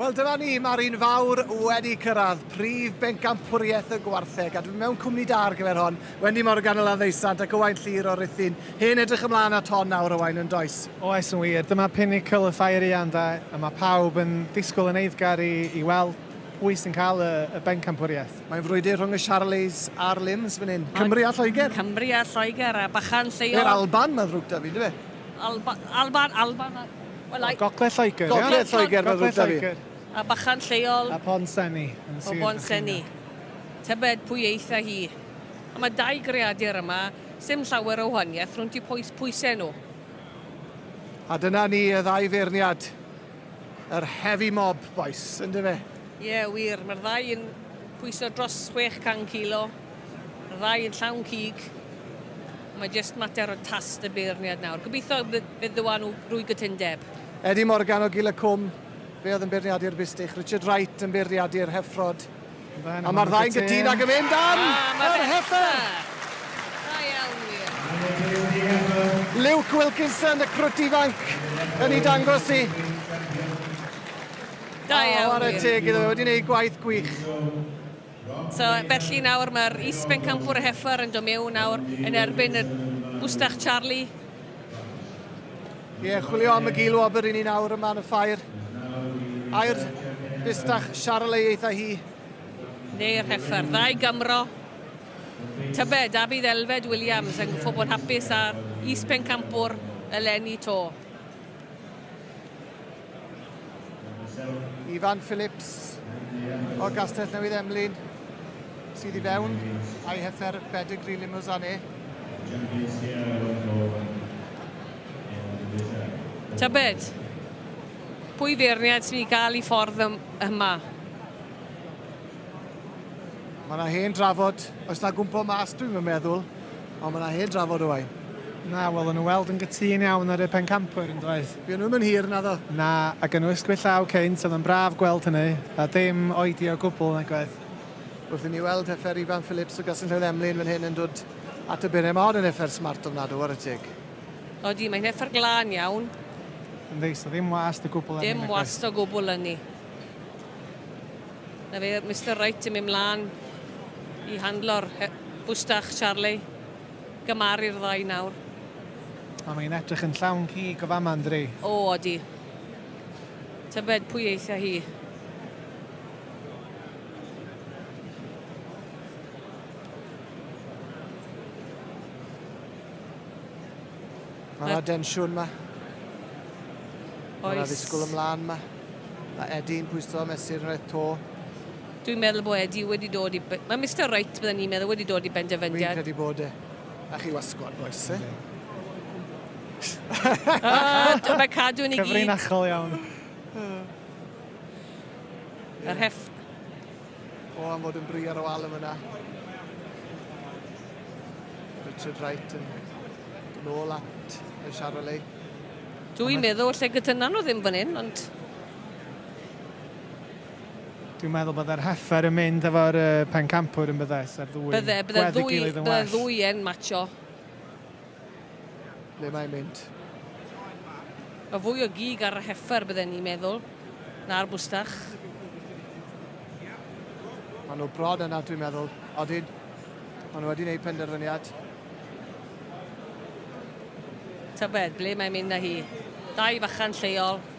Wel dyma ni, mae'r un fawr wedi cyrraedd prif bencampwriaeth y gwartheg a dwi'n mewn cwmni da ar gyfer hon. Wendy Morgan o Landdeisant ac Owain Llyr o Ruthin. Hen edrych ymlaen at hon nawr Owain yn does? Oes yn wir, dyma pinnacle y ffair ian da a mae pawb yn disgwyl yn eiddgar i, i weld pwy sy'n cael y, y bencampwriaeth. Mae'n frwydr rhwng y Charlies a'r Lims fan hyn. Cymru a Lloegr. Cymru a Lloegr a bachan lleol. Yr Alban, mae'n ddrwg da fi, dwi fe? Alban, Alban, Alban. Well, I... Gogledd Lloegr. Gogledd Lloegr, mae'n ddrwg da fi. A bachan lleol. A Pon Senni. O Pon Senni. Tybed pwy eitha hi. A mae dau greadur yma, sy'n llawer o wahaniaeth rhwng ti pwysau nhw. A dyna ni y ddau feirniad. Yr heavy mob bois, ynde fe? Ie, wir, mae'r ddau yn pwyso dros 600 kilo, y ddau yn llawn cig. Mae jyst mater o tast y beirniad nawr. Gobeithio fe ddywa nhw rwy gytundeb. Eddie Morgan o Gil y Cwm, fe oedd yn beirniadu'r Bistych, Richard Wright yn beirniadu'r Heffrod, A mae'r ddau'n gytun ac yn mynd am yr heffer! Da iawn wir. Luke Wilkinson, y crwt ifanc, yn ei dangos i. Da iawn wir. O, ar y teg iddo fe, wedi gwneud gwaith gwych. So, felly nawr mae'r is-bencampwr y heffer yn dod mewn nawr yn erbyn y Bwstach Charlie. Ie, yeah, chwilio am y gil wobr i ni nawr yma yn y ffair. Air bustach Siarl ei eitha hi. Neu'r heffer, ddau Gymro. Tybed, da bydd Elfed Williams yn gyffo bod hapus ar is pencampwr eleni to. Ifan Phillips o Gastell Newydd Emlyn sydd i fewn a'i hethr Pedigree Limousanne. Tybed, pwy feirniad sy'n ei gael i ffordd yma? Mae yna hen drafod, oes na gwmpo mas dwi'n meddwl, ond mae yna hen drafod o wain. Na, wel, yn y weld yn gytun iawn ar y pencampwyr yn doedd? Fuon nhw'm yn hir, naddo? Na, a gynnwys gwŷr llaw cynt, oedd yn braf gweld hynny, a dim oedi o gwbl nag oedd. Wrth i mi weld heffer Ifan Phillips o Gasinllewin Emlyn fan hyn yn dod at y bure, mae hon yn heffer smart ofnadw, ware teg. Odi, mae'n heffer glân iawn. Yn ddi, so ddim wast o gwbl ynni nag oedd? Dim wast o gwbl ynni. Na fe, Mister Wright yn mynd mlân i handlo'r he- bwstach, Charley. Gymharu'r ddau nawr. O mae'n edrych yn llawn cig o fama ynddi? O odi. Tybed pwy eitha hi? Mae yna densiwn ma. Mae yna ddisgwyl ymlaen ma. Mae Edi'n pwyso mesur yn rhaid to. Dwi'n meddwl bod Eddie wedi dod i... Mae Mister Wright, bydden ni'n meddwl, wedi dod i benderfyniad. Fi'n credu bod e. A chi wasgod, boes, e? o, mae cadw'n i gyd. Cyfrinachol iawn. Yr hef... O, am fod yn bri ar y wal yma. Richard Wright yn nôl at y Charolais. Dwi'n meddwl lle gyda nhw ddim fan hyn, ond... Dwi'n meddwl byddai'r heffer yn mynd efo'r uh, pencampwr yn byddai, sa'r ddwy bydde, bydde gwedd ddwy, gilydd yn well. Bydde ddwy yn matcho. Ble mae'n mynd? Mae fwy o gig ar y heffer bydde ni'n meddwl, na'r bwstach. Mae nhw brod yna, dwi'n meddwl. Odyn, mae nhw wedi gwneud penderfyniad. Tybed, ble mae'n mynd na hi? Dau fachan lleol,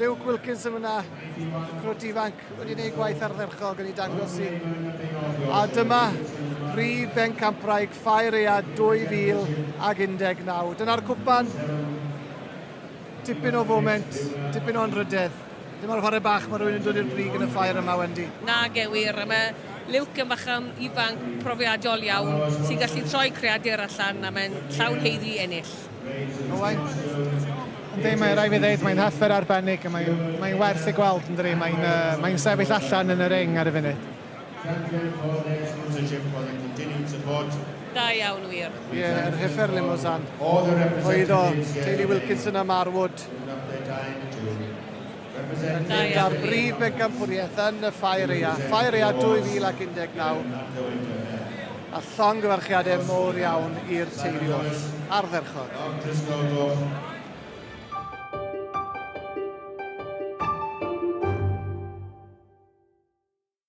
Luke Wilkins yn fyna, crwt ifanc wedi gwneud gwaith ardderchog yn ei dangos i. A dyma Prif Bencampwraig Ffair Ea 2019. Dyna'r cwpan. Dipyn o foment, dipyn o'n rhydedd. Dyma'r chwarae bach, mae rhywun yn dod i'r brig yn y ffair yma, Wendy. Na, gewir. A mae Luke yn facham ifanc profiadol iawn sy'n gallu troi creadur allan a mae'n llawn heiddi ennill. Owain. Yndi, mae rai fi ddeud, mae'n haffer arbennig a mae'n mae werth ei gweld yn dri. Mae'n uh, mae sefyll allan yn y ring ar y funud. Da iawn wir. Ie, yeah, yr hyffer Limousin. Oedd o, Kaylee Wilkinson a Marwood. Gyda'r brif bencampwriaeth yn y Ffair Ea, Ffair Ea 2019, a llongyfarchiadau mowr iawn i'r teulu wrth ardderchog.